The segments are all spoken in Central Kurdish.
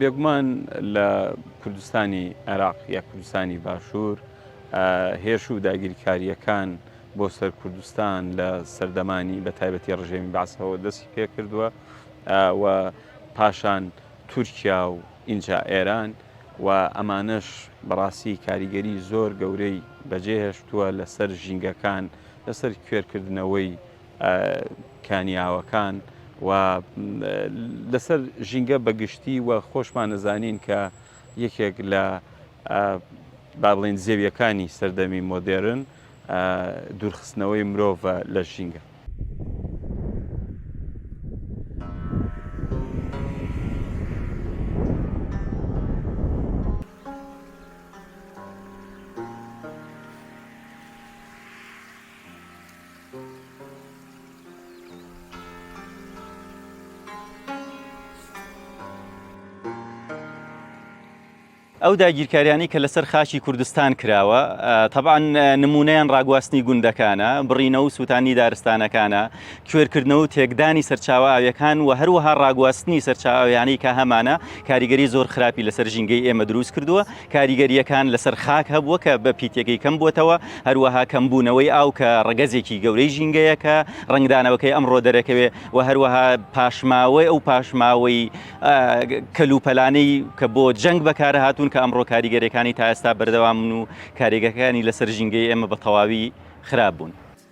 بێگومان لە کوردستانی عێراق یا کوردستانی باشوور هێرش و داگیرکارییەکان بۆ سەر کوردستان لە سەردەمانی بە تایبەتی ڕژێمی باسەوە دەستی پێکردووە و پاشان تورکیا و ئینجا ئێران و ئەمانەش بەڕاستی کاریگەری زۆر گەورەی بەجێهێشتووە لەسەر ژینگەکان لەسەر کوێرکردنەوەی کانیاوەکان و لەسەر ژینگە بە گشتی و خۆشمان نەزانین کە یەکێک لە بابلین زێویەکانی سەردەمی مۆدێرن دوورخستنەوەی مرۆڤە لە ژینگە. ئەو داگیرکاریانەی کە لەسەر خاکی کوردستان کراوە تەبان نمونەیان ڕاگواستنی گوندەکانە بڕینەوە و سووتانی دارستانەکانە کوێرکردنەوە و تێکدانی سەرچاوە ئاویەکان و هەروەها ڕاگواستنی سەرچاویانەی کە هەمانە کاریگەری زۆر خراپی لەسەر ژینگەی ئێمە دروست کردووە کاریگەرییەکان لەسەر خاک هەبووە کە بە پیتەکەی کەم بووەتەوە، هەروەها کەمبوونەوەی ئاو کە ڕەگەزێکی گەورەی ژینگەیە کە ڕەنگدانەوەکەی ئەمڕۆ دەرەکەوێ و هەروەها پاشماوەی ئەو پاشماوەی کەلوپەلانەی کە بۆ جەنگ بەکارهاتوون کە ئەمڕۆ کاریگەریەکانی تا ئێستا بەردەوامن و کاریگەکانی لەسەر ژینگەی ئێمە بە تەواوی خراپ بوون.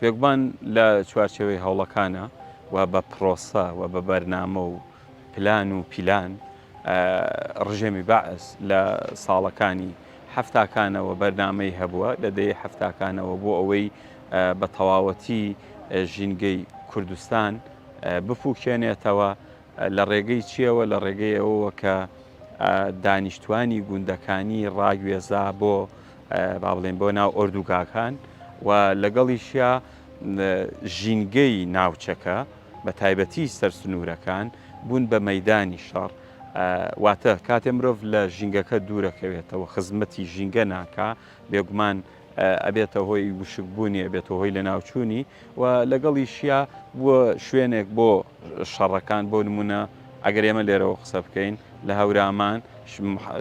بێگومان لە چوارچێوەی هەوڵەکانە و بە پرۆسە و بە بەرنامە و پلان و پیلان ڕژێمی بەعس لە ساڵەکانی حەفتاکانەوە بەرنامەی هەبووە لە دەی حەفتاکانەوە بۆ ئەوەی بە تەواوەتی ژینگەی کوردستان بپوکێنێتەوە لە ڕێگەی چییەوە؟ لە ڕێگەی ئەوەوە کە دانیشتوانی گوندەکانی ڕاگوێزا بۆ با بڵێن بۆ ناو ئۆردوگاکان و لەگەڵیشیا ژینگەی ناوچەکە بە تایبەتی سەرسنوورەکان بوون بە مەدانی شەڕ واتە کاتێ مرۆڤ لە ژینگەکە دوورەکەوێتەوە خزمەتی ژینگە ناکا بێگومان ئەبێتە هۆی وشک بوونی ئەبێتە هۆی لەناوچوونی و لەگەڵیشیا بووە شوێنێک بۆ شەڕەکان بۆ نمونە ئەگەر ئێمە لێرەوە قسە بکەین لە هەورامان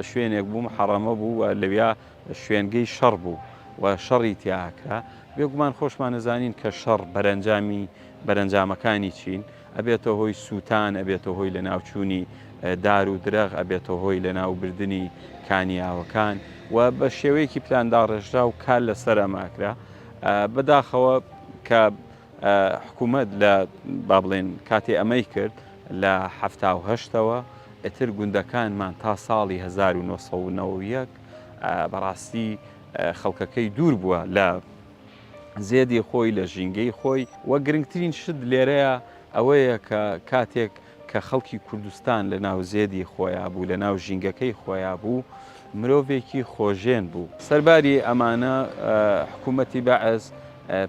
شوێنێک بوو محەڕەمە بوو و لەویا شوێنگەی شەڕ بوو و شەڕی تیاکرا بێگومان خۆشمان نەزانین کە شەڕ بەرەنجامی بەرەنجامەکانی چین ئەبێتە هۆی سووتان، ئەبێتە هۆی لەناوچوونی دار و درەخت، ئەبێتە هۆی لەناوبردنی کانیاوەکان و بە شێوەیەکی پلانداڕێژراو کار لەسەر ئەمە ئەکرا. بەداخەوە کە حکوومەت لە با بڵێن کاتێ ئەمەی کرد لە حەفتا و هەشتەوە ئیتر گوندەکانمان تا ساڵی هەزار و نۆ سەد و نەوەد و یەک بەڕاستی خەڵکەکەی دوور بووە لە زێدی خۆی لە ژینگەی خۆی و گرنگترین شت لێرەیە ئەوەیە کە کاتێک کە خەڵکی کوردستان لە ناو زێدی خۆیا بوو لە ناو ژینگەکەی خۆیا بوو مرۆڤێکی خۆژێن بوو. سەرباری ئەمانە حکوومەتی بەعس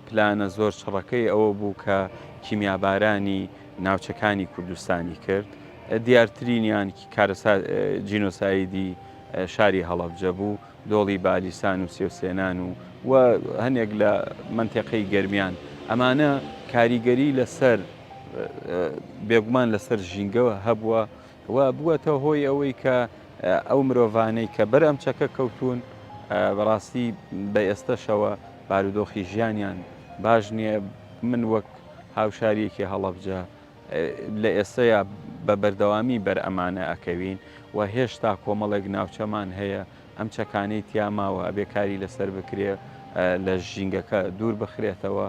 پلانە زۆر چڕەکەی ئەوە بوو کە کیمیابارانی ناوچەکانی کوردستانی کرد دیارترینیان کارەسات جینۆسایدی شاری هەڵەبجە بوو. دۆڵی بالیسان و سێوسێنان و و هەنێک لە مەنتێقەی گەرمیان ئەمانە کاریگەری لەسەر بێگومان لەسەر ژینگەوە هەبووە و بووەتە هۆی ئەوەی کە ئەو مرۆڤانەی کە بەر ئەم چەکە کەوتون بەڕاستی بە ئێستەشەوە بارودۆخی ژیانیان باش نییە من وەک هاوشاریەکی هەڵەبجە لە ئێستەیا بە بەردەوامی بەر ئەمانە ئەکەوین و هێشتا کۆمەڵێک ناوچەمان هەیە ئەم چەکانەی تیا ماوە ئەبێ کاری لەسەر بکرێ لە ژینگەکە دوور بخرێتەوە.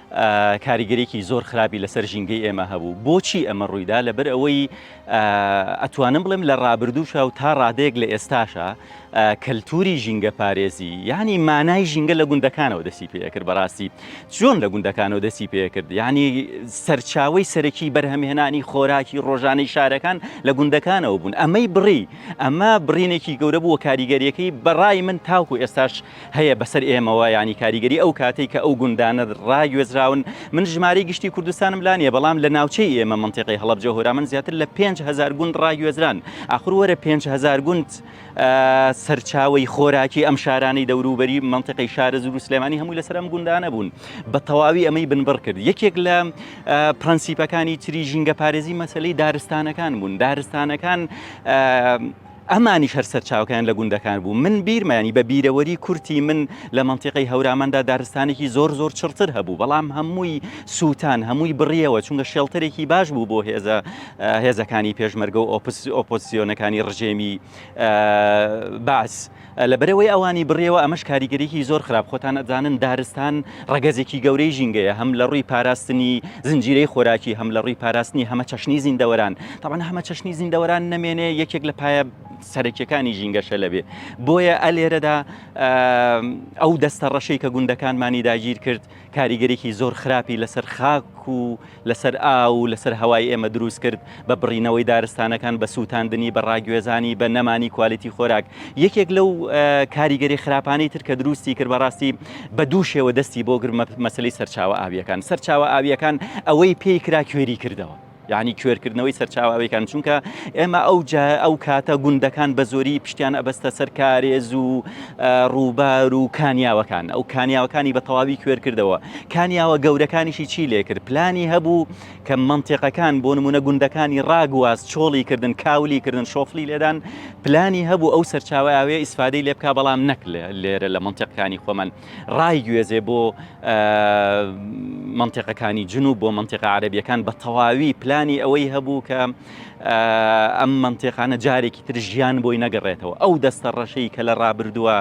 کاریگەریەکی زۆر خراپی لەسەر ژینگەی ئێمە هەبوو بۆچی ئەمە ڕوویدا لەبەر ئەوەی ئەتوانم بڵێم لە ڕابردووشە و تا ڕادەیەک لە ئێستاشە کەلتوری ژینگە پارێزی ینی مانای ژینگە لە گوندەکانەوە دەسی پێکرد بەڕاستی چۆن لە گوندەکانەوە دەسی پێکرد ینی سەرچاوی سەرەکی بەرهەمهێنانی خۆراکی ڕۆژانەی شارەکان لە گوندەکانەوە بوون ئەمەی بڕی ئەمە بڕینێکی گەورە بووە کاریگەریەکەی بەڕای من تاوکو ئێستاش هەیە بەسەر ئێمەوە یانی کاریگەری ئەو کاتەی کە ئەو گوندانە ڕاگوێزراون من ژمارەی گشتی کوردستانم لا نیە بەڵام لە ناوچەی ئێمە منتیقی هەڵەبجە هۆرامان زیاتر لە پێنج هزار گوند ڕاگوێزران ئاخر وەرە پێنج هزار گوند سەرچاوی خۆراکی ئەم شارانی دەوروبەری منتیقی شارز و سلێمانی هەمووی لەسەر ئەم گوندانە بوون بە تەواوی ئەمەی بنبڕ کرد یەکێک لە پرەنسیپەکانی تری ژینگە پارێزی مەسلەی دارستانەکان بوون دارستانەکان ئەمانیش هەر سەرچاوەکەیان لە گوندەکان بوو، من بیرمە یانی بە بیرەوەری کورتی من لە مەنتیقەی هەوراماندا دارستانێکی زۆر زۆر چڕتر هەبوو بەڵام هەمووی سووتان هەمووی بڕیەوە چونکە شێڵتەرێکی باش بوو بۆ هێزە هێزەکانی پێشمەرگە و ئۆپس ئۆپۆزسیۆنەکانی ڕژێمی بەعس. لە بەرەوەی ئەوانی بڕیەوە ئەمەش کاریگەریی زۆر خراپ خۆتان ئەزانن دارستان ڕەگەزێکی گەورەی ژینگەیە هەم لە ڕووی پاراستنی زنجیرەی خۆراکی هەم لە ڕووی پاراستنی هەمە چەشنی زیندەوەران تاوان هەمە چەشنی زیندەوەران نەمێنێ یەکێک لە پایە سەرەکیەکانی ژینگەشە لەبێ بۆیە ئەلێرەدا ئەو دەستە ڕەشەی کە گوندەکانمانی داگیر کرد کاریگەریی زۆر خراپی لەسەر خاک و لەسەر ئاو و لەسەر هەوای ئێمە دروست کرد، بە بڕینەوەی دارستانەکان، بە سووتاندنی، بە ڕاگوێزانی، بە نەمانی کوالیتی خۆراک. یەکێک لەو کاریگەری خراپانەی تر کە دروستی کرد، بەڕاستی بە دوو شێوە دەستی بۆ گرت، مەسەلەی سەرچاوە ئاوییەکان. سەرچاوە ئاوییەکان ئەوەی پێی کرا کوێری کردەوە. یەعنی کوێر کردنەوەی سەرچاوە ئەوێکان چونکە ئێمە ئەو ئەو کاتە گوندەکان بە زۆری پشتیان ئەبەستە سەر کارێز و ڕووبار و کانیاوەکان ئەو کانیاوەکانی بە تەواوی کوێر کردەوە کانیاوە گەورەکانیشی چی لێ کرد پلانی هەبوو کە منتێقەکان بۆ نمونە گوندەکانی ڕاگواز چۆڵی کردن کاولی کردن شۆفلی لێدان پلانی هەبوو ئەو سەرچاوە ئاوێ ئیسفادەی لێ بک بەڵام نەک لێرە لە منتێقەکانی خۆمان ڕایگوێزێ بۆ مەنتیقەکانی جنوب بۆ مەنتیقە عەربیەکان بە تەواوی پلانی ئەوەی هەبوو کە ئەم مەنتێقانە جارێکی تر ژیان بۆی نەگەڕێتەوە ئەو دەستە ڕەشەی کە لە ڕابردووە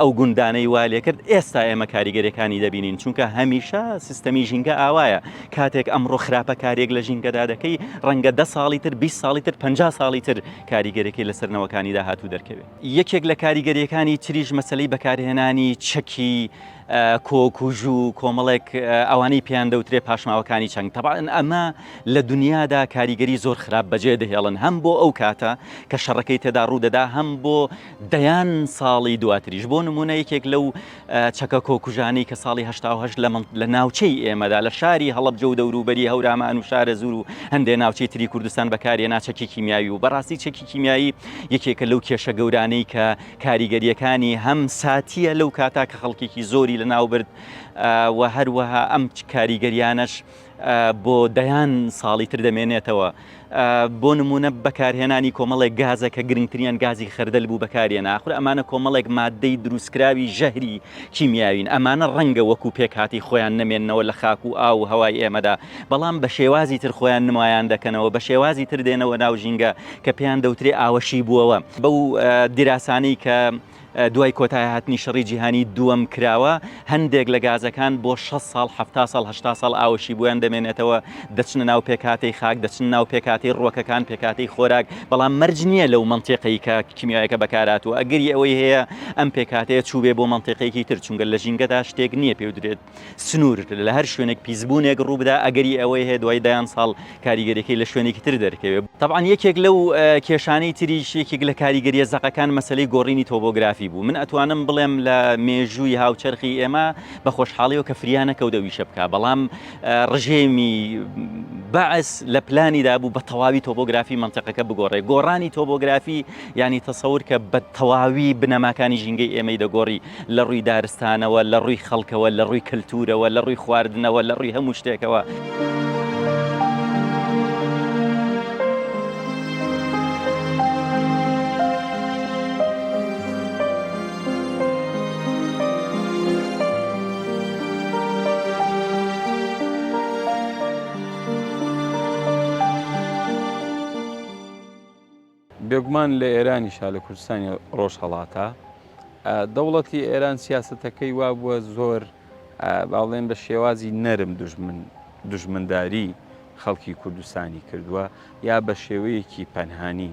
ئەو گوندانەی وا لێکرد ئێستا ئێمە کاریگەرەکانی دەبینین چونکە هەمیشە سیستەمی ژینگە ئاوایە کاتێک ئەمڕۆ خراپە کارێک لە ژینگەدا دەکەی ڕەنگە ده ساڵی تر 20 ساڵی تر 50 ساڵی تر کاریگەرەکەی لەسەرنەوەکانی داهاتوو دەرکەوێت. یەکێک لە کاریگەرییەکانی تریش مەسەلەی بەکارهێنانی چەکی کۆک و ژوو کۆمەڵێک ئەوانەی پێیان دەوترێ پاشماوەکانی چەنگ تەبان ئەمە لە دنیادا کاریگەری زۆر خراپ بەجێ دەهێڵن هەم بۆ ئەو کاتە کە شەڕەکەی تێدا ڕوودەدا هەم بۆ دەیان ساڵی دواتریش بۆ نمونە یەکێک لەو چەکە کۆکوژانەی کە ساڵی هەشتا و هەشت لە ناوچەی ئێمەدا لە شاری هەڵەبجە و دەوروبەری هەورامان و شارەزوور و هەندێ ناوچەی تری کوردستان بەکارهێنا چەکی کیمیاوی و بەڕاستی چەکی کیمیایی یەکێکە لەو کێشە گەورانەی کە کاریگەریەکانی هەم ساتیە لەو کاتا کە خەڵکێکی زۆری لەناوبرد و هەروەها ئەم کاریگەریانەش بۆ دەیان ساڵی تر دەمێنێتەوە. بۆ نموونە بەکارهێنانی کۆمەڵێک گازە کە گرنگتریان گازی خەردەل بوو بەکارهێنا. ئاخر ئەمانە کۆمەڵێک ماددەی دروستکراوی ژەهری کیمیاوین. ئەمانە ڕەنگە وەکوو پێکهاتەی خۆیان نەمێننەوە لە خاک و ئاو و هەوای ئێمەدا، بەڵام بە شێوازی تر خۆیان نمایان دەکەنەوە، بە شێوازی تر دێنەوە ناو ژینگە کە پێیان دەوترێ ئاوەشیبووەوە. بەو دیراسانەی کە دوای کۆتایهاتنی شەڕی جیهانی دووەم کراوە، هەندێک لە گازەکان بۆ شەست ساڵ، حەفتا ساڵ، هەشتا ساڵ ئاوەشی بۆیان دەمێنێتەوە، دەچنە ناو پێکهاتەی خاک، دەچنە ناو پێکهاتەی ڕووەکەکان، پێکهاتەی خۆراک، بەڵام مەرج نییە لەو مەنتیقەی کە کیمیایەکە بەکارهاتووە، ئەگەری ئەوەی هەیە ئەم پێکهاتەیە چووبێ بۆ مەنتیقێکی تر، چونکە لە ژینگەدا شتێک نییە پێی بدرێت. سنوور لە هەر شوێنێک پیسبوونێک ڕووبدا ئەگەری ئەوەی هەیە دوای دەیان ساڵ کاریگەریەکەی لە شوێنێکی تر دەرکەوێت طبعاان یەکێک لەو کێشانەی تریش یەکێک لە کاریگەریە زەقەکان مەسلەی گۆڕینی تۆبۆگرافی بوو من ئەتوانم بڵێم لە مێژووی هاوچەرخی ئێمە بە خۆشحاڵیەوە کە فریانە کەوتەویشە بکە بەڵام ڕژێمی بەعس لە پلانی دابوو بە تەواوی تۆبۆگرافی منطقەکە بگۆڕێ گۆڕانی تۆبۆگرافی ینی تەسەور کە بە تەواوی بنەماکانی ژینگەی ئێمەی دەگۆڕی لە ڕووی دارستانەوە، لە ڕووی خەڵکەوە، لە ڕووی کەلتوورەوە، لە ڕووی خواردنەوە، لە ڕووی هەموو شتێکەوە. بێگومان لە ئێرانیشا لە کوردستانی ڕۆژهەڵاتا دەوڵەتی ئێران سیاستەکەی وا بووە زۆر باڵێن بە شێوازی نەرم دژمن دژمنداری خەڵکی کوردستانی کردووە یا بە شێوەیەکی پەنهانی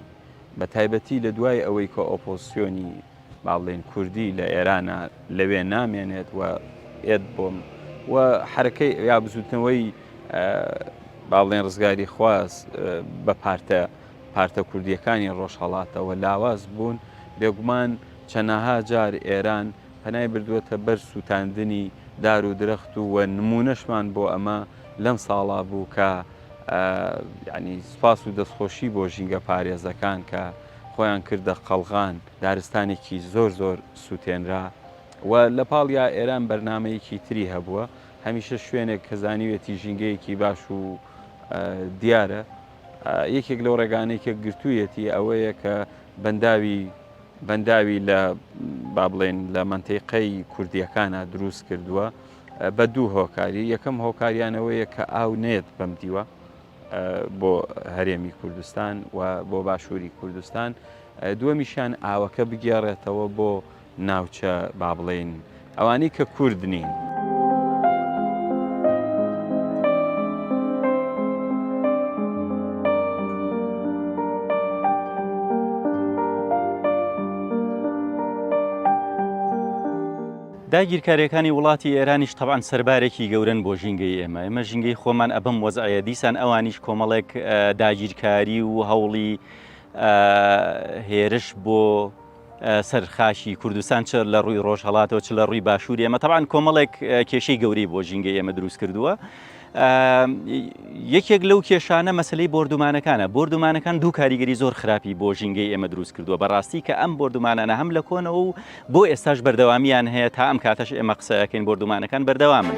بە تایبەتی لە دوای ئەوەی کە ئۆپۆسیۆنی باڵێن کوردی لە ئێرانە لەوێ نامێنێت و ئێت بۆم و حرەکەی یا بزوتنەوەی باڵێن ڕزگاری خواست بە پارتە پارتە کوردییەکانی ڕۆژهەڵاتەوە لاواز بوون، بێگومان چەناها جار ئێران پەنای بردووەتە بەر سووتاندنی دار و درەخت و و نموونەشمان بۆ ئەمە لەم ساڵا بوو کە یانی سوپاس و دەستخۆشی بۆ ژینگە پارێزەکان کە خۆیان کردە قەڵغان، دارستانێکی زۆر زۆر سووتێنرا و لە پاڵیا ئێران بەرنامەیەکی تری هەبووە، هەمیشە شوێنێک کە زانیوێتی ژینگەیەکی باش و دیارە، یەکێک لەو ڕێگانەی کە گرتوویەتی ئەوەیە کە بەنداوی بەنداوی لە با بڵێن لە منتیقەی کوردیەکانە دروست کردووە بە دوو هۆکاری یەکەم هۆکاریانەوەیە کە ئاو نێت بەم دیوە بۆ هەرێمی کوردستان و بۆ باشووری کوردستان دووەمیشیان ئاوەکە بگێڕێتەوە بۆ ناوچە با بڵێین ئەوانەی کە کورد نین. داگیرکاریەکانی وڵاتی ئێرانیش تەبان سەربارێکی گەورن بۆ ژینگەی ئێمە ئێمە ژینگەی خۆمان ئەبم وەزعەیە دیسان ئەوانیش کۆمەڵێک داگیرکاری و هەوڵی هێرش بۆ سەر خاکی کوردستان چ لە ڕووی ڕۆژهەڵاتەوە چ لە ڕووی باشووری ئێمە تەبان کۆمەڵێک کێشەی گەورەی بۆ ژینگەی ئێمە دروست کردووە یەکێک لەو کێشانە مەسلەی بردومانەکانە بردومانەکان دوو کاریگەری زۆر خراپی بۆ ژینگەی ئێمە دروست کردووە بەڕاستی کە ئەم بردومانانە هەم لە کۆنەوە و بۆ ئێستاش بەردەوامیان هەیە تا ئەم کاتەش ئێمە قسەکەین بردومانەکان بەردەوامن.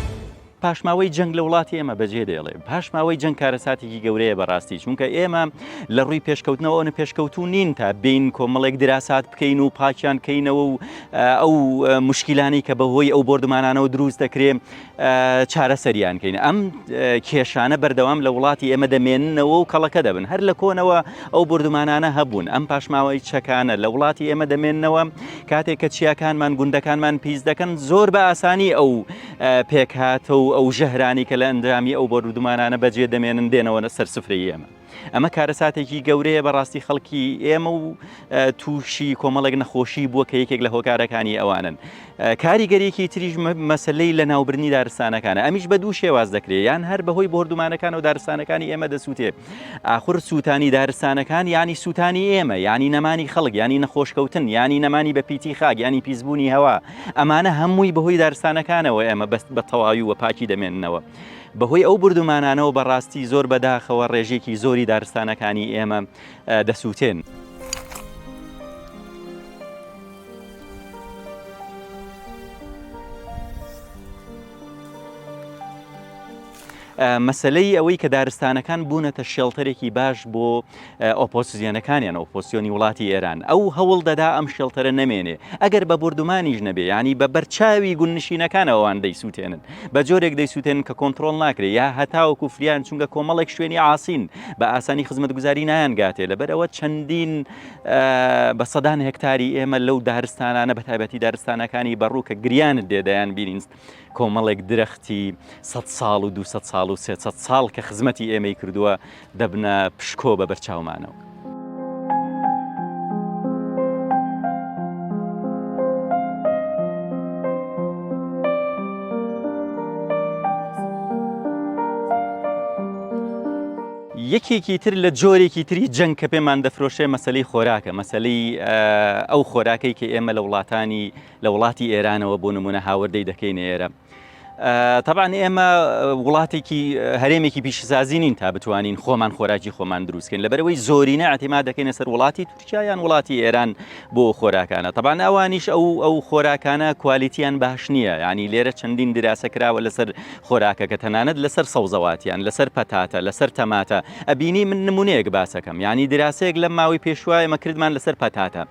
پاشماوەی جەنگ لە وڵاتی ئێمە بەجێ دێڵێ پاشماوەی جەنگ کارەساتێکی گەورەیە بەڕاستی چونکە ئێمە لە ڕووی پێشکەوتنەوە ئەوە پێشکەوتو نین تا بین کۆمەڵێک دراسات بکەین و پاکیان کەینەوە و ئەو مشکیلانی کە بەهۆی ئەو بردمانانەوە دروست دەکرێن چارەسەریان کەین ئەم کێشانە بەردەوام لە وڵاتی ئێمە دەمێننەوە و کەڵەکە دەبن هەر لە کۆنەوە ئەو بردمانانە هەبوون ئەم پاشماوەی چەکانە لە وڵاتی ئێمە دەمێنەوە کاتێک کە چیاکانمان گوندەکانمان پیس دەکەن زۆر بە ئاسانی ئەو پێکهاتە و ئەو ژەهرانی کە لە ئەندرامی ئەو بۆرودمانانە بەجێ دەمێنن دێنەوەە سەر سفری ئێمە ئەمە کارەساتێکی گەورەیە بەڕاستی خەڵکی ئێمە و تووشی کۆمەڵێک نەخۆشی بووە کە یەکێک لە هۆکارەکانی ئەوانن کاریگەریەکی تریش مەسلەی لە ناوبرنی دارستانەکانە ئەمیش بە دوو شێواز دەکرێت یان هەر بەهۆی بردومانەکان و دارستانەکانی ئێمە دەسووتێت ئاخر سووتانی دارستانەکان یانی سووتانی ئێمە، یانی نەمانی خەڵک، یانی نەخۆشکەوتن، یانی نەمانی بەپیتی خاک، یانی پیسبوونی هەوا، ئەمانە هەمووی بەهۆی دارستانەکانەوە ئێمە بە تەواوی و پاکی دەمێننەوە. بەهۆی ئەو بوردومانانەوە بەڕاستی زۆر بەداخەوە ڕێژێکی زۆری دارستانەکانی ئێمە دەسووتێن. مەسەلەی ئەوەی کە دارستانەکان بوونەتە شێڵتەرێکی باش بۆ ئۆپۆسیزیۆنەکانیان ئۆپۆسیۆنی وڵاتی ئێران ئەو هەوڵ دەدا ئەم شێڵتەرە نەمێنێ ئەگەر بە بردومانیش نەبێ ینی بە بەرچاوی گونشینەکانەوەوان دەیسووتێنن بە جۆرێک دەیسووتێن کە کۆنتترۆل ناکرێ یا هەتاو کوفریان چونگە کۆمەڵێک شوێنی ئاسین بە ئاسانی خزمەت گوزاری نایانگاتێ لەبەرەوە چەندین بە سەدان هەکتاری ئێمە لەو دارستانانە بە تایبەتی دارستانەکانی بەڕوو کە گریانت دێدایان بینینست کۆمەڵێک درەختی سەد ساڵ و دوو سەد ساڵ و سێ سەد ساڵ کە خزمەتی ئێمەی کردووە دەبنە پشکۆ بە بەرچاومانەوە. یەکێکی تر لە جۆرێکی تری جەنگ کە پێمان دەفرۆشێ مەسلەی خۆراکە مەسلەی ئەو خۆراکەی کە ئێمە لە وڵاتانی لە وڵاتی ئێرانەوە بۆ نمونە هاوردەی دەکەین ئێرە تەبان ئێمە وڵاتێکی هەرێمێکی پیشسازی نین تا بتوانین خۆمان خۆراکی خۆمان دروستکەین لە بەرەوەی زۆرینە ئەتیما دەکەینە سەر وڵاتی تورکیایان وڵاتی ئێران بۆ خۆراکانە تەبان ئەوانیش ئەو ئەو خۆراکانە کوالیتیان باش نییە ینی لێرە چەندین دراسە کراوە لەسەر خۆراکەکە تەنانەت لەسەر سەوزەواتیان لەسەر پەتاتە لەسەر تەماتە ئەبینی من نمونەیەک باسەکەم ینی دراسەیەک لە ماوەی پێشوایە مەکردمان لەسەر پەتاتە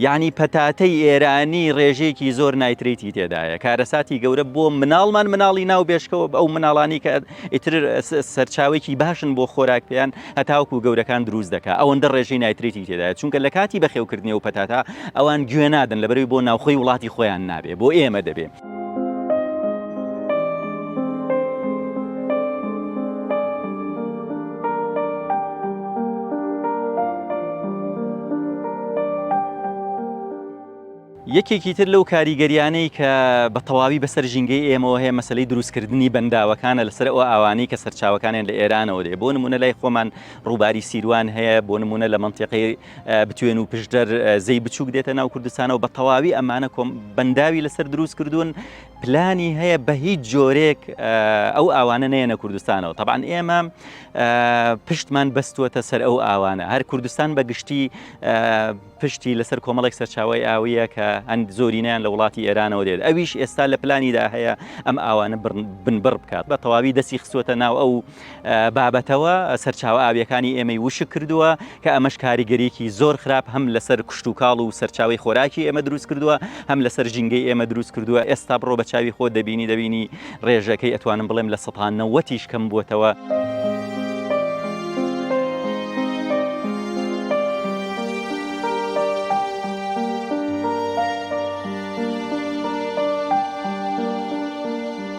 یەعنی پەتاتەی ئێرانی ڕێژەیەکی زۆر نایتریتی تێدایە کارەساتی گەورە بۆ مناڵمان مناڵی ناو بێشکەوە ئەو مناڵانی کە ئیتر سەرچاوێکی باشن بۆ خۆراک پێیان هەتاوکو گەورەکان دروست دەکات ئەوەندە ڕێژەی نایتریتی تێدایە چونکە لە کاتی بەخێوکردنی و پەتاتا ئەوان گوێ نادن لەبەروی بۆ ناوخۆی وڵاتی خۆیان نابێ بۆ ئێمە دەبێ یەکێکی تر لەو کاریگەریانەی کە بە تەواوی بەسەر ژینگەی ئێمەوە هەیە مەسلەی دروستکردنی بەنداوەکانە لەسەر ئەو ئاوانەی کە سەرچاوەکانیان لە ئێرانەوە دێ بۆ نمونە لای خۆمان ڕووباری سیروان هەیە بۆ نمونە لە منتیقی بتوێن و پشدەر زەی بچووک دێتە ناو کوردستانەوە بە تەواوی ئەمانە کۆم بەنداوی لەسەر دروست کردوون پلانی هەیە بە هیچ جۆرێک ئەو ئاوانە نێنە کوردستانەوە طبعاان ئێمە پشتمان بەستوەتە سەر ئەو ئاوانە هەر کوردستان بە گشتی پشتی لەسەر کۆمەڵێک سەرچاوی ئاویە کە هەند زۆرینیان لە وڵاتی ئێرانەوە دێت ئەویش ئێستا لە پلانیدا هەیە ئەم ئاوانە بنبڕ بکات بە تەواوی دەسی خسوەتە ناو ئەو بابەتەوە سەرچاوە ئاوییەکانی ئێمەی وشک کردووە کە ئەمەش کاریگەریکی زۆر خراپ هەم لەسەر کشتتوکاڵ و سەرچاوی خۆراکی ئێمە دروست کردووە هەم لەسەر ژینگەی ئێمە دروست کردووە ئێستا بڕۆ بە چاوی خۆ دەبینی دەبینی ڕێژەکەی ئەتوانم بڵێم لە سەانەوەتیش کەم بووتەوە.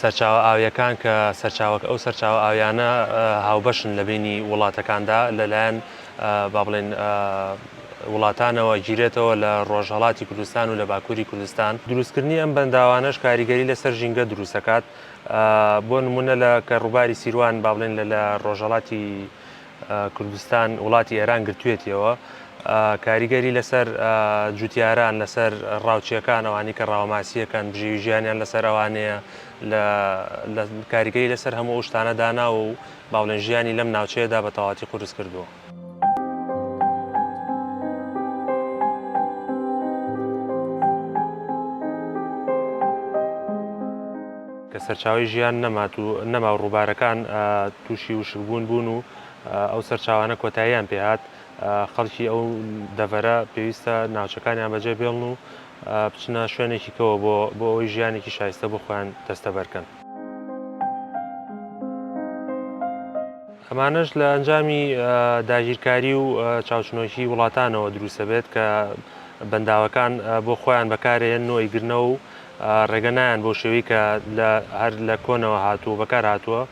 سەرچاوە ئاوییەکان کە سەرچاوەکە ئەو سەرچاوە ئاوییانە هاوبەشن لە بینی وڵاتەکاندا لە لایەن با بڵێن وڵاتانەوە گیرێتەوە لە ڕۆژهەڵاتی کوردستان و لە باکووری کوردستان دروستکردنی ئەم بەنداوانەش کاریگەری لەسەر ژینگە دروستەکات بۆ نمونە لە کە ڕووباری سیروان با بڵێن لە لە ڕۆژهەڵاتی کوردستان وڵاتی ئێران گرتوێتیەوە کاریگەری لەسەر جوتیاران لەسەر ڕاوچیەکان ئەوانی کە ڕاوماسیەکان بژێوی ژیانیان لەسەر ئەوانەیە لە کاریگەری لەسەر هەموو ئەو شتانە داناوە و باڵێن ژیانی لەم ناوچەیەدا بە تەواتی قورس کردووە. سەرچاوی ژیان نەمات و نەما و ڕووبارەکان تووشی وشکبوون بوون و ئەو سەرچاوانە کۆتاییان پێهات، خەڵکی ئەو دەڤەرە پێویستە ناوچەکانیان بەجێ بێڵن و بچنە شوێنێکی کەوە بۆ بۆ ئەوەی ژیانێکی شایستە بۆ خۆیان دەستەبەر کەن. ئەمانەش لە ئەنجامی داگیرکاری و چاوچنۆکی وڵاتانەوە دروست دەبێت کە بەنداوەکان بۆ خۆیان بەکارێن نۆ ئەیگرنەوە و ڕێگە نایەن بەو شێوەی کە هەر لە کۆنەوە هاتووە بەکار هاتووە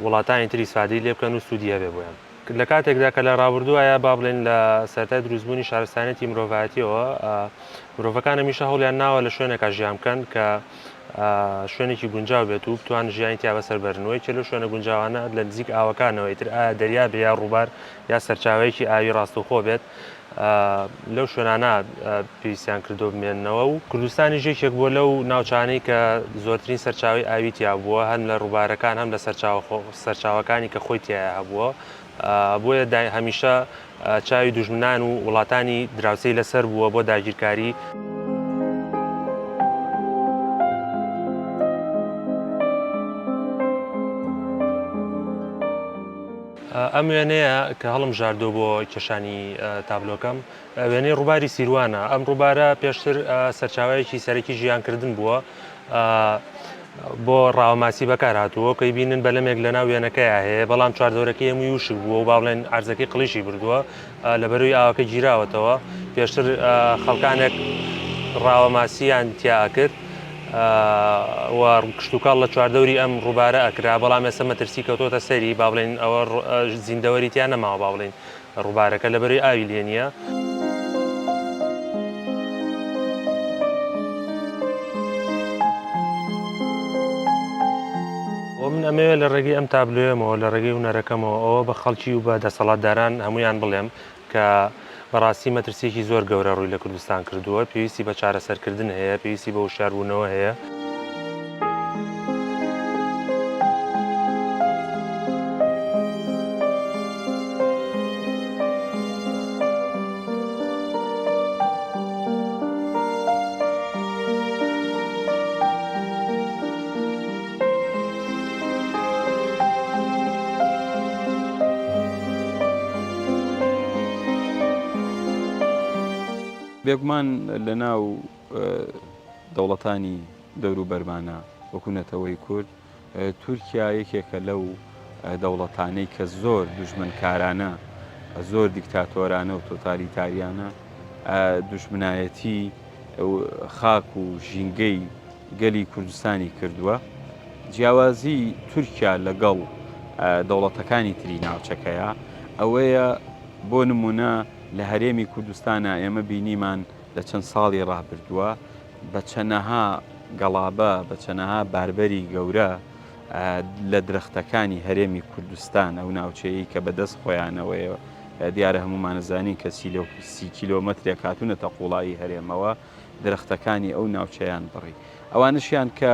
وڵاتانی تری سفادەی لێ بکەن و سوودی هەبێ بۆیان. لە کاتێکدا کە لە ڕابردووایە با بڵێین لە سەرەتای دروستبوونی شارستانیەتی مرۆڤایەتیەوە مرۆڤەکان هەمیشە هەوڵیان ناوە لە شوێنێکا ژیان بکەن کە شوێنێکی گونجاو بێت و بتوان ژیانی تیا بەسەر بەرنەوەی چێ لەو شوێنە گونجاوانە لە نزیک ئاوەکانەوەی تر ئایا دەریا بێ یا ڕووبار یا سەرچاوەیەکی ئاوی ڕاستەوخۆ بێت لەو شوێنانە پێویستیان کردو بمێنەوە و کوردستانیش یەکێک بووە لەو ناوچانەی کە زۆرترین سەرچاوی ئاوی تیا بووە هەم لە ڕووبارەکان هەم لە سەرچاوەکانی کە خۆی تایە هەبووە بۆیە دای هەمیشە چاوی دوژمنان و وڵاتانی دراوسەی لەسەر بووە بۆ داگیرکاری. ئەم وێنەیە کە هەڵمژاردووە بۆ کێشانی تابلۆکەم، وێنەی ڕووباری سیروانە. ئەم ڕووبارە پێشتر سەرچاوەیەکی سەرەکی ژیانکردن بووە، بۆ ڕاوە ماسی بەکارهاتووە، وەک ئەیبینن بەلەمێک لەناو وێنەکەیا هەیە، بەڵام چواردەورەکەی هەمووی وشک بووە و با بڵێن عەرزەکەی قڵیشی بردووە. لە بەرووی ئاوەکە گیراوەتەوە پێشتر خەڵکانێک ڕاوە ماسییان تیا ئەکرد و کشتتوکاڵ لە چواردەوری ئەم ڕووبارە ئەکرا بەڵام ئێستا مەترسی کەوتۆتە سەری با بڵێن ئەوە زیندەوەری تیا نەماوە با بڵین ڕووبارەکە لە بەرووی ئاوی لێ نییە. وە من ئەمەوێت لە ڕێگەی ئەم تابلۆیەمەوە، لە ڕێگەی هونەرەکەمەوە ئەوە بە خەڵکی و بە دەسەڵاتداران هەموویان بڵێم کە بەڕاستی مەترسییەکی زۆر گەورە ڕووی لە کوردستان کردووە، پێویستی بە چارەسەرکردن هەیە، پێویستی بە وشیاربوونەوە هەیە. بێگومان لە ناو دەوڵەتانی دەوروبەرمانە وەکو نەتەوەی کورد تورکیا یەکێکە لەو دەوڵەتانەی کە زۆر دژمنکارانە زۆر دیکتاتۆرانە و تۆتالیتاریانە دژمنایەتی خاک و ژینگەی گەلی کوردستانی کردووە، جیاوازی تورکیا لەگەڵ دەوڵەتەکانی تری ناوچەکەیە ئەوەیە بۆ نمونە لە هەرێمی کوردستانا ئێمە بینیمان لە چەند ساڵی ڕابردووە بە چەنەها گەڵابە بە چەنەها باربەری گەورە لە درەختەکانی هەرێمی کوردستان ئەو ناوچەیە کە بەدەست خۆیانەوەیەوە دیارە هەمومانەزانین کە سی کیلۆمەترێک هاتوونەتە قوڵایی هەرێمەوە درەختەکانی ئەو ناوچەیان بڕی ئەوانەشیان کە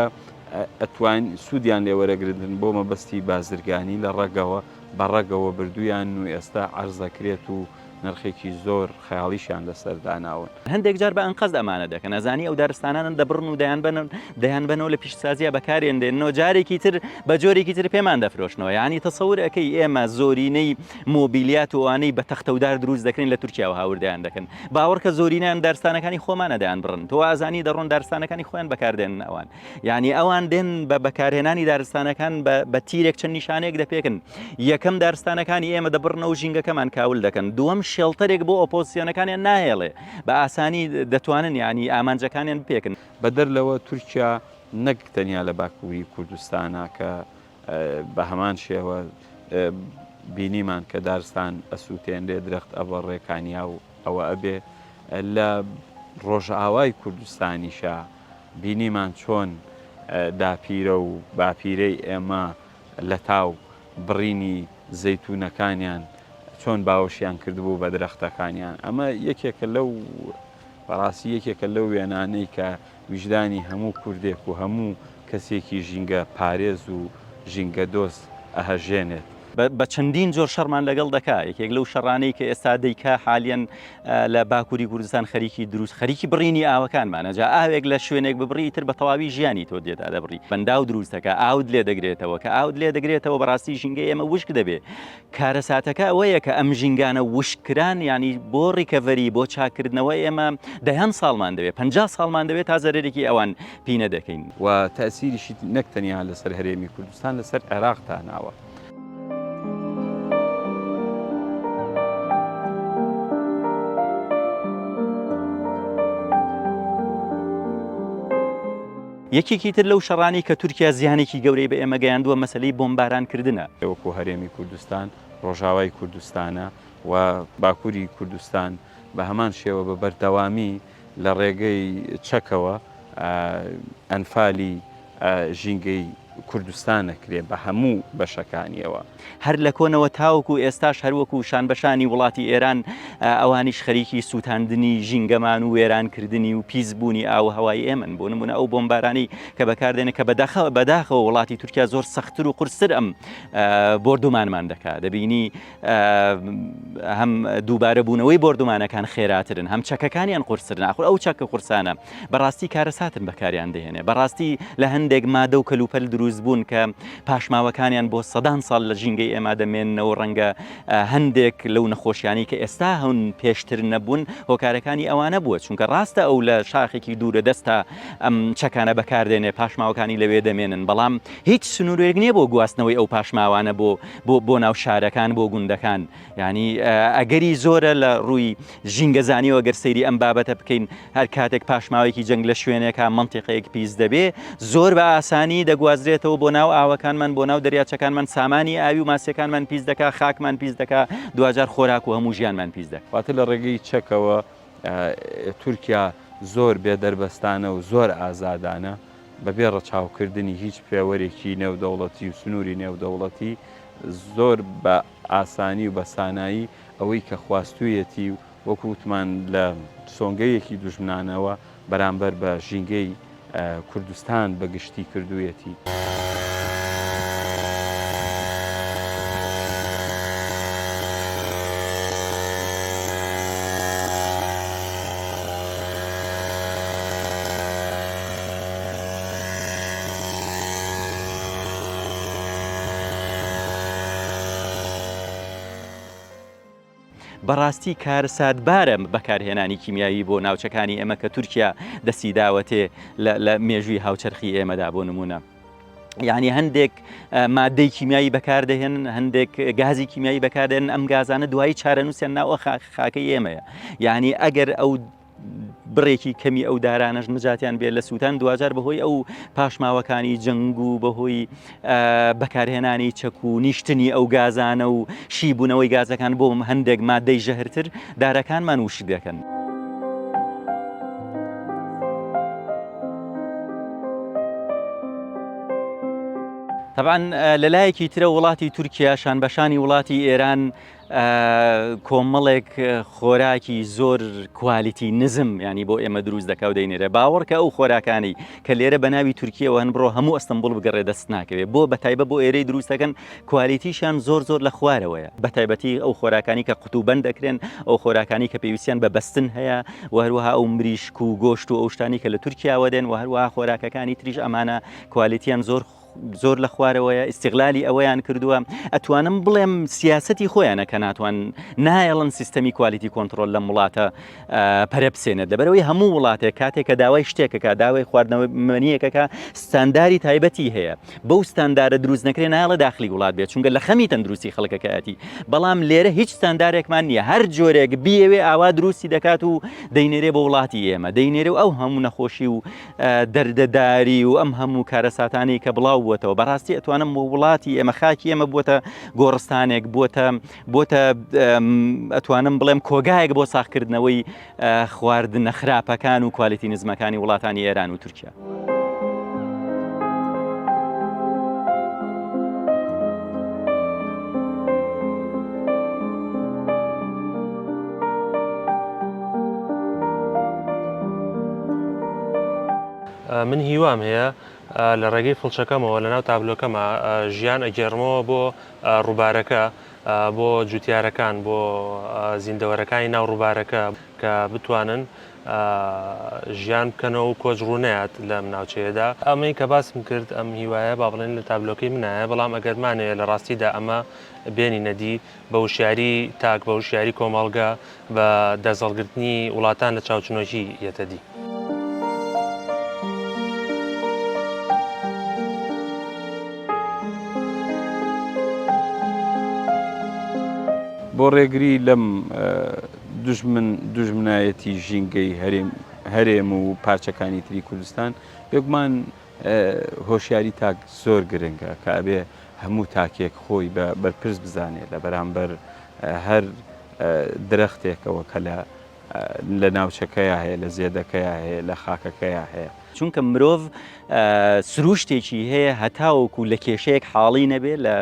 ئەتوان سوودیان لێوەرەگرن بۆ مەبەستی بازرگانی لە ڕەگەوە بە ڕەگەوە بردویان و ئێستا عرزەکرێت و نرخێکی زۆر خەیاڵیشیان لەسەرداناون. هەندێک جار بە ئەنقەست ئەمانە دەکەن ئەزانی ئەو دارستانانە دەبڕن و دەیانبەنەوە لە پیشتسازیە بەکارێن دێنەوە جارێکی تر بە جۆرێکی تر پێمان دەفرۆشنەوە یعنی تەسەور ئەەکەی ئێمە زۆرینەی مۆبیلیات و ئەوانەی بە تەختە و دار دروست دەکرێن لە تورکیاوە هاوردەیان دەکەن باوەڕکە زۆرینەیان دارستانەکانی خۆمانە دەیان بڕن تۆ ئازانی دەڕۆن دارستانەکانی خۆیان بەکاردێنن ئەوان یعنی ئەوان دێن بە بەکارهێنانی دارستانەکان بە تیرێک چەند نیشانەیەک دەپێکن یەکەم دارستانەکانی ئێمە دەبڕنەوە ژینگەکەمان کاول دەکەن دووەم شێڵتەرێک بۆ ئۆپۆسیۆنەکانیان ناهێڵێ بە ئاسانی دەتوانن ینی ئامانجەکانیان بپێکن بەدەر لەوە تورکیا نەک تەنیا لە باکووری کوردستانە کە بە هەمان شێوە بینیمان کە دارستان ئەسووتێنرێ، درەخت ئەبڕێ، کانیاو ئەوە ئەبێ. لە ڕۆژئاوای کوردستانیشە بینیمان چۆن داپیرە و باپیرەی ئێمە لەتاو بڕینی زەیتوونەکانیان چۆن باوەشیان کردبوو بە درەختەکانیان. ئەمە یەکێکە لەو بەڕاستی یەکێکە لەو وێنانەی کە ویژدانی هەموو کوردێک و هەموو کەسێکی ژینگە پارێز و ژینگە دۆست ئەهەژێنێت. بە چەندین جۆر شەڕمان لەگەڵ دەکا، یەکێک لەو شەڕانەی کە ئێستا دەیکا حالیەن لە باکووری کوردستان خەریکی دروست خەریکی بڕینی ئاوەکانمانە، جا ئاوێک لە شوێنێک ببڕی ئیتر بە تەواوی ژیانی تۆ دێتە دەبڕی، بەنداو دروست دەکا ئاوت لێ دەگرێتەوە، کە ئاوت لێ دەگرێتەوە بەڕاستی ژینگەی ئێمە وشک دەبێ، کارەساتەکە ئەوەیە کە ئەم ژینگانە وشک کران یانی بۆ ڕیکەڤەری بۆ چاککردنەوە ئێمە دەیان ساڵمان دەوێت پەنجا ساڵمان دەوێت تا زەرەرێکی ئەوان پینە دەکەین. و تەئسیریشی نەک تەنیا لەسەر هەرێمی کوردستان لەسەر عێراق داناوە. یەکێکی تر لەو شەڕانەی کە تورکیا زیانێکی گەورەی بە ئێمە گەیاندووە مەسەلەی بۆمبارانکردنە. وەکو هەرێمی کوردستان، ڕۆژاوای کوردستانە و باکوری کوردستان بە هەمان شێوە بە بەردەوامی لە ڕێگەی چەکەوە ئەنفالی ژینگەی کوردستان ئەکرێ بە هەموو بەشەکانیەوە. هەر لە کۆنەوە تاوەکو ئێستاش هەروەکو شانبەشانی وڵاتی ئێران ئەوانیش خەریکی سووتاندنی ژینگەمان و وێرانکردنی و پیسبوونی ئاو هەوای ئێمن بۆ نمونە ئەو بۆمبارانی کە بەکاردێنە کە بەداخە بەداخەوە وڵاتی تورکیا زۆر سەختتر و قرستر ئەم بردومانمان دەکات دەبینی هەم دووبارە بوونەوەی بردومانەکان خێراترن هەم چەکەکانیان قرسرن ناخور ئەو چەکە قورسانە بەڕاستی کارەساتن بەکاریان دەهێنێ بەڕاستی لە هەندێک مادە و کەلوپەل دروست بوون کە پاشماوەکانیان بۆ سەدان ساڵ لە ژینگەی ئێما دەمێننەوە ڕەنگە هەندێک لەو نەخۆشیانی کە ئێستا هەون پێشتر نەبوون هۆکارەکانی ئەوانە بووە چونکە ڕاستە ئەو لە شاخێکی دوورە دەستا ئەم چەکانە بەکاردێنێ پاشماوەکانی لەوێ دەمێنن بەڵام هیچ سنوورێک نییە بۆ گواستنەوەی ئەو پاشماوانە بۆ بۆ بۆ ناو شارەکان بۆ گوندەکان یانی ئەگەری زۆرە لە ڕووی ژینگەزانیەوە گەر سەیری ئەم بابەتە بکەین هەر کاتێک پاشماوەیەکی جەنگ لە شوێنێکە منتیقەیەک پیس دەبێ زۆر بە ئاسانی دەگوازرێتەوە بۆ ناو ئاوەکانمان بۆ ناو دەریاچەکانمان سامانی ئاوی و ماسیەکانمان پیس دەکا خاکمان پیس دەکا دوجار خۆراک و هەموو ژیانمان پیس دەک واتە لە ڕێگەی چەکەوە تورکیا زۆر بێ دەربەستانە و زۆر ئازادانە بەبێ ڕەچاوکردنی هیچ پێوەرێکی نێودەوڵەتی و سنووری نێودەوڵەتی زۆر بە ئاسانی و بە سانایی ئەوەی کە خواستوویەتی و وەکو وتمان لە سۆنگەیەکی دوژمنانەوە بەرامبەر بە ژینگەی کوردستان بە گشتی کردوویەتی. بەڕاستی کارەساتبارە بەکارهێنانی کیمیایی بۆ ناوچەکانی ئێمە کە تورکیا دەسیداوەتێ لە مێژووی هاوچەرخی ئێمەدا بۆ نمونە. یعنی هەندێک مادەی کیمیایی بەکاردەهێن هەندێک گازی کیمیایی بەکاردێن ئەم گازانە دوایی چارەنووسیان ناوە خاکەی ئێمەیە یعنی ئەگەر ئەو بڕێکی کەمی ئەو دارانەش نجاتیان بێت لە سووتان دواجار بەهۆی ئەو پاشماوەکانی جەنگ و بەهۆی بەکارهێنانی چەک و نیشتنی ئەو گازانە و شیبوونەوەی گازەکان بۆ هەندێک مادەی ژەهرتر دارەکانمان وشک دەکەن. تەبان لەلایەکی ترە وڵاتی تورکیا شان بەشانی وڵاتی ئێران کۆمەڵێک خۆراکی زۆر کوالیتی نزم ینی بۆ ئێمە دروست دەکاو دەینێرە باوەڕکە ئەو خۆراکانی کە لێرە بە ناوی تورکیەوە هەن بڕۆ هەموو ئەستەمبول بگەڕێ دەست ناکەوێت بۆ بە تایبە بۆ ئێرەی دروستەکەن کوالیتیشان زۆر زۆر لە خوارەوەیە بە تایبەتی ئەو خۆراکانی کە قوتوبند دەکرێن ئەو خۆراکانی کە پێویستیان بە بەستن هەیە و هەروەها ئەو مریشک و گۆشت و ئەو شتانی کە لە تورکیاوە دێن و هەروەها خۆراکەکانی تریش ئەمانە کوالیتیان زۆر زۆر لە خوارەوەیە ئیسیغلالی ئەوەیان کردووە ئەتوانم بڵێم سیاستی خۆیانە کە ناتوان نایەڵن سیستەمی کوالیتی کۆنتترۆل لەم وڵاتە پەرەپسێنێت لەبەرەوەی هەموو وڵاتێک کاتێک کە داوای شتێکەکە داوای خواردنەوە منیەکەکە ستانداری تایبەتی هەیە بەو ستاندارە دروست نەکرێ نایڵە داخلی وڵات بێت چونگە لە خەمی تەندروستی خەڵکەکەیەتی بەڵام لێرە هیچ ستاندارێکمان نییە هەر جۆرێک بیەوێ ئاوا دروستی دەکات و دەینێرێ بە وڵاتی ئێمە دەینێرە و ئەو هەموو نەخۆشی و دەردەداری و ئەم هەموو کارەساتانی کە بڵاو بووەتەوە بەڕاستی ئەتوانم و وڵاتی ئێمە خاکی ئێمە بووە گۆڕستانێک بووە بۆتە ئەتوانم بڵێم کۆگایەک بۆ ساخکردنەوەی خواردن نەخراپەکان و کوالیتی نزمەکانی وڵاتانی ئێران و تورکیا. من هیوام هەیە لە ڕێگەی فڵچەکەمەوە لە ناو تابلۆکەمە ژیان ئەگەرمەوە بۆ ڕووبارەکە بۆ جوتیارەکان بۆ زیندەوەرەکانی ناو ڕووبارەکە کە بتوانن ژیان بکەنەوە و کۆچ ڕوونات لەم ناوچەیەدا ئەمەی کە باسم کرد ئەم هیوایە با بڵێن لە تابلۆکەی منایە بەڵام ئەگەرمانەیە لە ڕاستیدا ئەمە بێنی نەدی بە وشیاری تاک، بە وشیاری کۆمەڵگە، بە دەست هەڵگرتنی وڵاتان لە چاوچنۆکی یەتە دی. بۆ ڕێگری لەم دوژمن دوژمنایەتی ژینگەی هەرێم و پارچەکانی تری کوردستان، بێگومان، هۆشیاری تاک زۆر گرنگە کە ئەبێ هەموو تاکێک خۆی بە بەرپرس بزانێ لە بەرامبەر هەر درەختێکەوە کە لە لە ناوچەکەیا هەیە، لە زێدەکەیا هەیە، لە خاکەکەیا هەیە. چونکە مرۆڤ سرووشتێکی هەیە هەتاوەکوو لە کێشەیەک حاڵی نەبێ، لە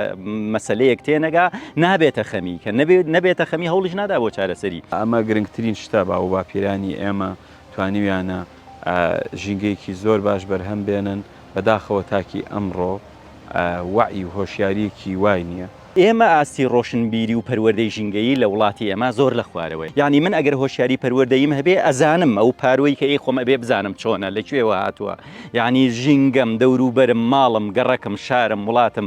مەسەلەیەک تێنەگا نابێتە خەمی، کە نەبێ نەبێتە خەمی هەوڵیش نادا بۆ چارەسەری. ئەمە گرنگترین شتە باووباپیرانی ئێمە توانیویانە. ژینگەیەکی زۆر باش بەرهەم بێنن، بەداخەوە تاکی ئەمڕۆ وەعی و هۆشیاریەکی وای نیە. ئێمە ئاستی ڕۆشنبیری و پەروەردەی ژینگەیی لە وڵاتی ئێمە زۆر لە خوارەوەیە، یانی من ئەگەر هۆشیاری پەروەردەییم هەبێ ئەزانم ئەو پاروەی کە ی خۆم ئەبێ بزانم چۆنە لە کوێوە هاتووە، یانی ژینگەم، دەوروبەرم، ماڵم، گەڕەکم، شارم، وڵاتم،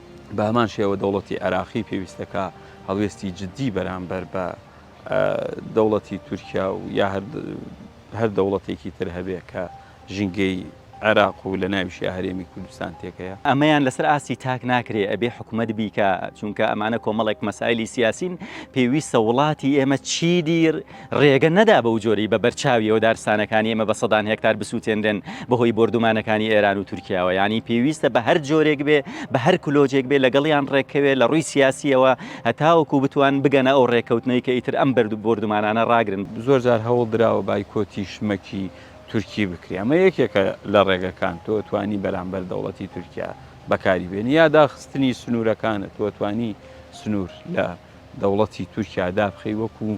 بە هەمان شێوە دەوڵەتی عێراقی پێویستەکە هەڵوێستی جددی بەرامبەر بە دەوڵەتی تورکیا و یا هەر دەوڵەتێکی تر هەبێ کە ژینگەی عێراق و لە ناویشی هەرێمی کوردستان تێکەیە. ئەمەیان لەسەر ئاستی تاک ناکرێ ئەبێ حکومەت بیکا چونکە ئەمانە کۆمەڵێک مەسایلی سیاسین پێویستە وڵاتی ئێمە چیدی ڕێگە نەدا بەو جۆرەی بە بەر چاویەوە دارستانەکانی ئێمە بە سەدان هێکتار بسوتێنرێن بە هۆی بۆردومانەکانی ئێران و تورکیاوە یانی پێویستە بە هەر جۆرێک بێ بە هەر کلۆجێک بێ لەگەڵیان ڕێککەوێ لە ڕووی سیاسیەوە هەتاوەکو بتوان بگەنە ئەو ڕێککەوتنەی کە ئیتر ئەم بەرد و بۆردومانانە ڕاگرن. زۆر جار هەوڵ دراوە بایکۆتی شمەکی تورکی بکرێ ئەمە یەکێکە لە ڕێگەکان تۆ توانی بەرامبەر دەوڵەتی تورکیا بەکاری بێنی یا داخستنی سنورەکانت تۆ توانی سنور لە دەوڵەتی تورکیا دابخەی وەکو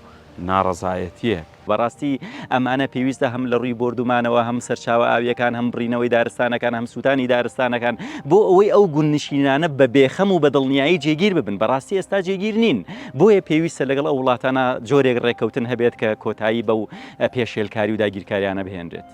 ناڕەزایەتیەک. بەڕاستی ئەمانە پێویستە هەم لەڕووی بۆردومانەوە هەم سەرچاوە ئاوییەکان هەم بڕینەوەی دارستانەکان هەم سووتانی دارستانەکان بۆ ئەوەی ئەو گوندنشینانە بە بێخەم و بە دڵنیایی جێگیر ببن بەڕاستی ئێستا جێگیر نین بۆیە پێویستە لەگەڵ ئەو وڵاتانە جۆرێک ڕێککەوتن هەبێت کە کۆتایی بەو پێشێلکاری و داگیرکاریانە بهێنرێت.